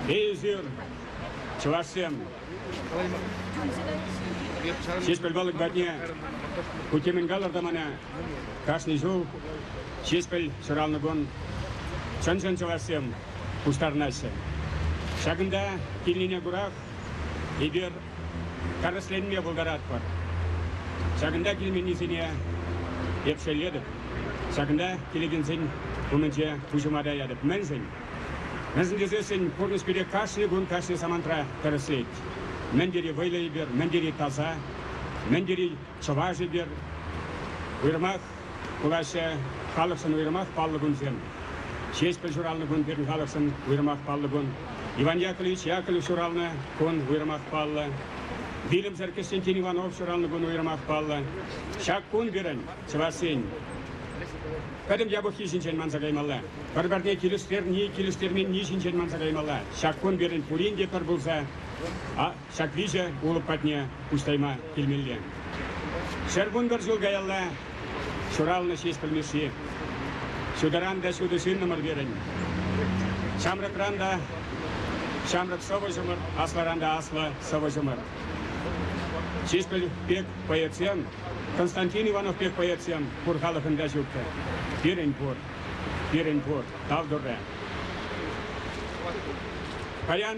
Эсир, чӑвашсем, Ҫеҫпӗл Палӑк патне кутемен калӑр та мана кашни ҫул Ҫеҫпӗл ҫуралнӑ кун чӑн-чӑн чӑвашсем пуҫтарӑнаҫҫӗ. Ҫакӑнта килнине курах эпир тӗрӗсленме пултаратпӑр. Ҫакӑнта килменнисене эп шеллетӗп. Ҫакӑнта килекенсен умӗнче пуҫӑма таятӑп. Мӗншӗн? Мӗншӗн тесессӗн пурнӑҫ пире кашни кун кашни самантра тӗрӗслет. Мӗн тери вӑйлӑ эпир, мӗн тери таса, мӗн тери чӑваш эпир. Уйрӑмах Кураҫҫӗ халӑхшӑн уйрӑмах паллӑ кунсем. Ҫеҫпӗл ҫуралнӑ кун пирӗн халӑхшӑн уйрӑмах паллӑ кун. Иван Яковлевич Яковлев ҫуралнӑ кун уйрӑмах паллӑ. Вилӗмсӗр Кӗҫтенкин Иванов ҫуралнӑ кун уйрӑмах паллӑ. Ҫак кун пирӗн, чӑвашсен, пӗтӗм япӑххи ҫинчен манса каймалла. Пӗр-пӗрне килӗштерни, килӗштерменни ҫинчен манса каймалла. Ҫак кун пирӗн пурин те пӗр пулса ҫак виҫӗ улӑп патне куҫтайма килмелле. Ҫӗр вунпӗр ҫул каялла ҫуралнӑ Ҫеҫпӗл Мишши. Ҫутӑран та ҫутӑ ҫыннӑмӑр пирӗн. Ҫамрӑкран та ҫамрӑк сӑвӑҫӑмӑр, аслӑран та аслӑ сӑвӑҫӑмӑр. Ҫеҫпӗл пек поэтсем, Константин Иванов пек поэтсем пур халӑхӑнта ҫук-тӑр. Пирӗн пур, пирӗн пур, тав турӗ. Паян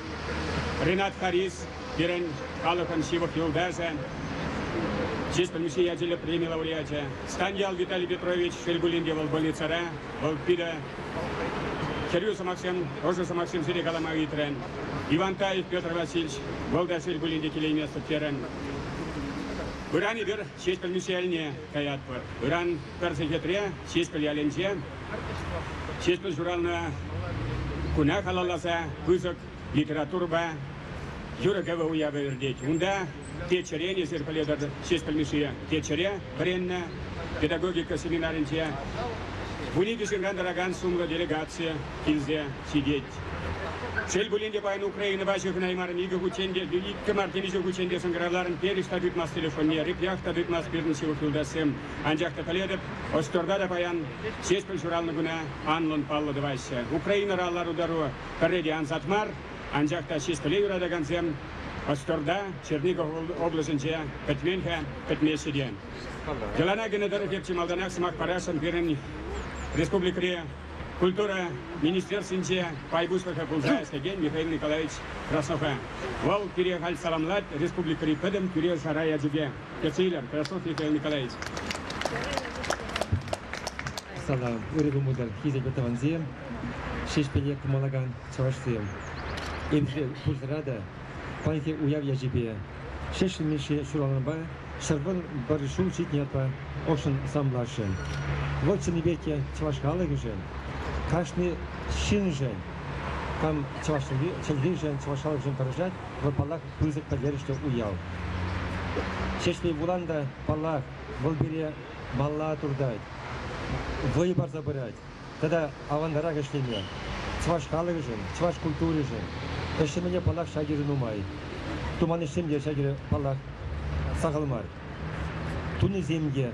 Ринат Харис, пирӗн халӑхӑн ҫывӑх юлташӗ, чыс пӗлмӗшне ячӗллӗ преми лауреачӗ. Станьял Виталий Петрович шел пулин те вӑл больницӑра, вӑл пирӗн хӗрӳ сӑмахсем, ӑшӑ сӑмахсем сире калама ыйтрӗ. Иван Таев Петр Васильевич, вӑл та шел пулин те килейместӗп терӗн. Ыран эпир Ҫеҫпӗл Мишельне каятпӑр. Ыран пӗр сехетре Ҫеҫпӗл ялӗнче Ҫеҫпӗл ҫуралнӑ куна халалласа пысӑк литературӑпа юрӑ-кӗвӗ уявӗ иртет. Унта Теччӗрен, эсир пӗлетӗр, Ҫеҫпӗл Мишши Теччӗре вӗреннӗ, педагогика семинарӗнче вун икӗ ҫынран тӑракан сумлӑ делегаци килсе ҫитет. Шел пулин те, паян Украинӑпа ҫыхӑнаймарӑн икӗ хутчен те, иккӗ мар темиҫе хутчен те сӑнкӑравларӑн, перӗҫ та тытмас телефонне, репях та тытмас пирӗн ҫывӑх юлташсем. Анчах та пӗлетӗп, Ӑҫтӑрта та паян Ҫеҫпӗл ҫуралнӑ куна анлӑн паллӑ тӑваҫҫӗ. Украинӑра лару-тӑру пӗрре те ансат мар, анчах та Ҫеҫпӗле юратакансем Ӑҫтӑрта, Черников облаҫӗнче пӗтмен-ха, пӗтмеҫҫӗ те. Йӑлана кӗнӗ тӑрӑх эп чи малтанах сӑмах парасшӑн пирӗн республикӑри культура министерствинче пай пуҫлӑхӗ пулса ӗҫлекен Михаил Николаевич Краснова. Вӑл пире халь саламлать республикӑри пӗтӗм тӳре-шара ячӗпе. Кӗтсе илем, хорошо, Михаил Николаевич. Сана ырӑ кӑмӑлсем хисеплӗ тӑвансем, Ҫеҫпӗле кӑмалакан чӑвашсем. Эпире пурсӑра та паянхи уяв ячӗпе, Ҫеҫпӗл Мишши ҫуралнӑпа ҫӗрпун пӗр ҫул ҫитнӗ ятпа ӑшшӑн саламласшӑн. Вӑл чӑннипе те чӑваш халӑхӗшӗн, кашни ҫыншӑн, кам чӑваш чӗлхишӗн, чӑваш халӑхӗшӗн тӑрӑшать, вӑл паллах, пысӑк пӗлтерӗшлӗ уяв. Ҫеҫпӗл Буран та, паллах, вӑл пире малла туртать, вӑй парса пырать тата аванрах ӗҫлеме. Чӑваш халӑхӗшӗн, чӑваш культуришӗн ӗҫлемене, паллах, ҫак ырӑ нумай. Туман ӗҫсем те ҫак ырӑ, паллах, сахал мар. Тунисем те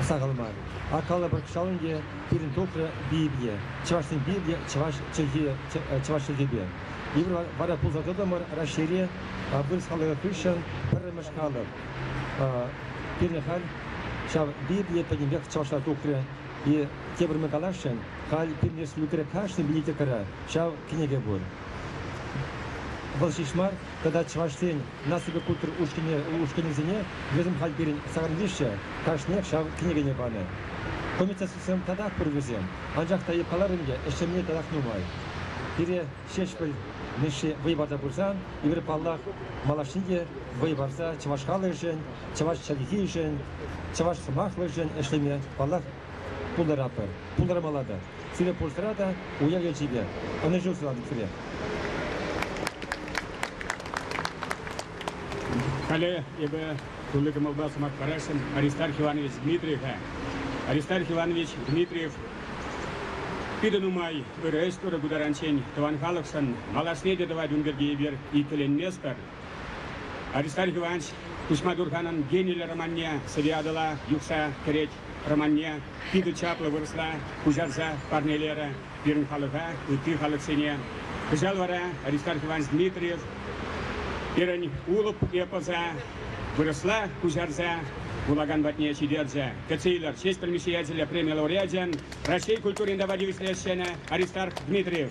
сахал мар. Акалла Пӑркшалӑн те пирӗн тухрӗ Библие. Чӑвашсен Библийӗ чӑваш чӗлхи, чӑваш чӗлхипе. Эпир вара пулса тӑтӑмӑр Раҫҫейре вырӑс халӑхӗ хыҫҫӑн пӗрремӗш халӑх. Пирӗн халь ҫав Библие пӗтӗмпех чӑвашла тухрӗ. И тепӗр мы каласшӑн, халь пирӗн республикӑра кашни библиотекара ҫав кӗнеке пур. Вӑл ҫеҫ мар, тата Чӑваш Ен наципе ушкӑнӗсене вӗсем халь пирӗн сакӑр виҫҫӗ кашниех ҫав кӗнекене панӑ. Комитетсем татах пур вӗсем, анчах та каларӑм те, ӗҫлеме татах нумай. Пире Ҫеҫпӗл Мишши вӑй парса пырсан, эпир паллах, малашне те вӑй парса чӑваш халӑхӗшӗн, чӑваш чӗлхишӗн, чӑваш сӑмахлӑхӗшӗн ӗҫлеме паллах Пултаратпӑр, пултармалла та. Сире пурсӑра та уяв ячейпе ӑнӑҫу сунатӑп сире. Халӗ эпӗ тулли кӑмӑлпа сӑмах парасшӑн Аристарх Иванович Дмитриева. Аристарх Иванович Дмитриев питӗ нумай ырӑ ӗҫ турӗ ку таранччен тӑван халӑхшӑн, малашне те тӑвать ун пирки эпир иккӗленместпӗр. Аристарх Иванович Куҫма Турханӑн гениллӗ романне Сӗве Атӑла юхса кӗрет Романне питӗ чаплӑ вырӑсла куҫарса парнелерӗ пирӗн халӑха, ытти халӑхсене. Кӑҫал вара Аристарх Иванович Дмитриев пирӗн Улӑп эпоса вырӑсла куҫарса вулакан патне ҫитерчӗ. Кӗтсе илер честь предмещателя преми лауреачӗн Раҫҫей культурин тава тивӗҫлӗ ӗҫченӗ Аристарх Дмитриев.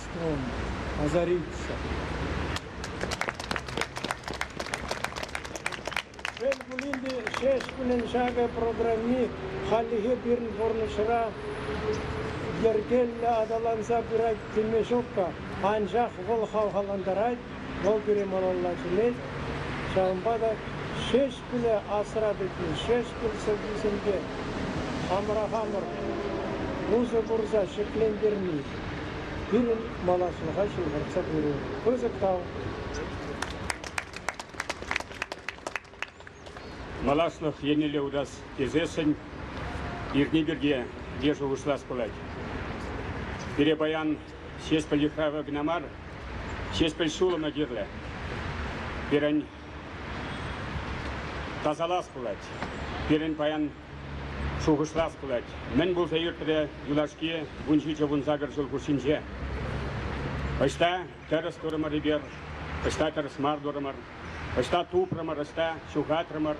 Озариться. Шел пулин те, ҫеҫ пулин ҫакӑ программи хальлӗхе пирӗн пурнӑҫра йӗркеллӗ аталанса пырать теме ҫук-ха. Анчах вӑл хавхалантарать, вӑл пире малалла чӗнет. Ҫавӑнпа та ҫеҫ киле асра тӑкин Ҫеҫпӗл сӑввисемпе хамӑра хамӑр усӑ курса ҫӗклентерни пирӗн малашлӑха ҫывхартса пыру пысӑк тав. Малашлӑх еннелле утас тесессӗн иртни пирки те шухӑшлас пулать. Пире паян Ҫеҫпӗл йыхравӗ кӑна мар, Ҫеҫпӗл ҫулӑмӗ кирлӗ. Пирӗн Тасалас пулать. Пирӗн паян шухӑшлас пулать. Мӗн пулса иртрӗ юлашки вун ҫичӗ вун сакӑр ҫул хушшинче? Ӑҫта тӗрӗс турӑмӑр эпир, ӑҫта тӗрӗс мар турӑмӑр, ӑҫта тупрӑмӑр, ӑҫта ҫухатрӑмӑр.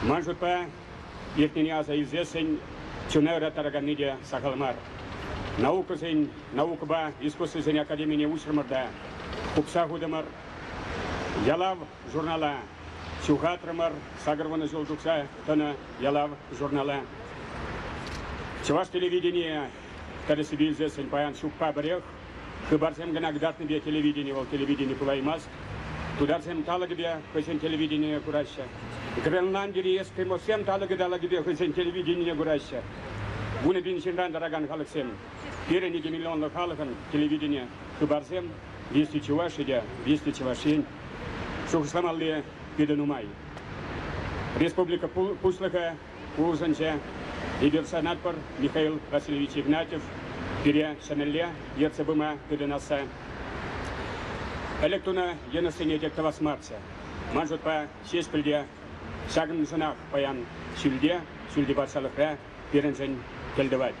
Ман шутпа, иртнине аса илсессӗн чуна ыраттараканни те сахал мар. Наукӑсен, наукӑпа искусствӑсен академине уҫрӑмӑр та укҫа хутӑмӑр, Ялав журнала ҫухатрӑмӑр, сакӑр вунӑ ҫул тухса тӑнӑ Ялав журнала. Чӑваш телевиденийӗ тӗрӗссипе илсессӗн паян ҫукпа пӗрех. Хыпарсем кӑна кӑтартнипе телевидени вӑл телевидени пулаймасть. Тутарсем талӑкӗпе хӑйсен телевиденине кураҫҫӗ. Гренландири эскимоссем талӑкӗ-талӑкӗпе хӑйсен телевиденине кураҫҫӗ. Вунӑ пин ҫынран тӑракан халӑхсем, пирӗн икӗ миллионлӑ халӑхӑн телевидени, хыпарсем Если Чувашия, если Чӑвашин шухӑшламалли питӗ нумай. Республика Пуҫлӑхӗ улшӑнчӗ. Эпир шанатпӑр, Михаил Васильевич Игнатьев пире ҫӗнӗлле ертсе пыма тытӑнасса. Ӗлӗк тунӑ йӑнӑшсене те тӑвас марччӗ. Ман шутпа, Ҫеҫпӗл те ҫакӑншӑнах паян ҫӳлте, ҫӳлти патшалӑхра пирӗншӗн тӗл тӑвать.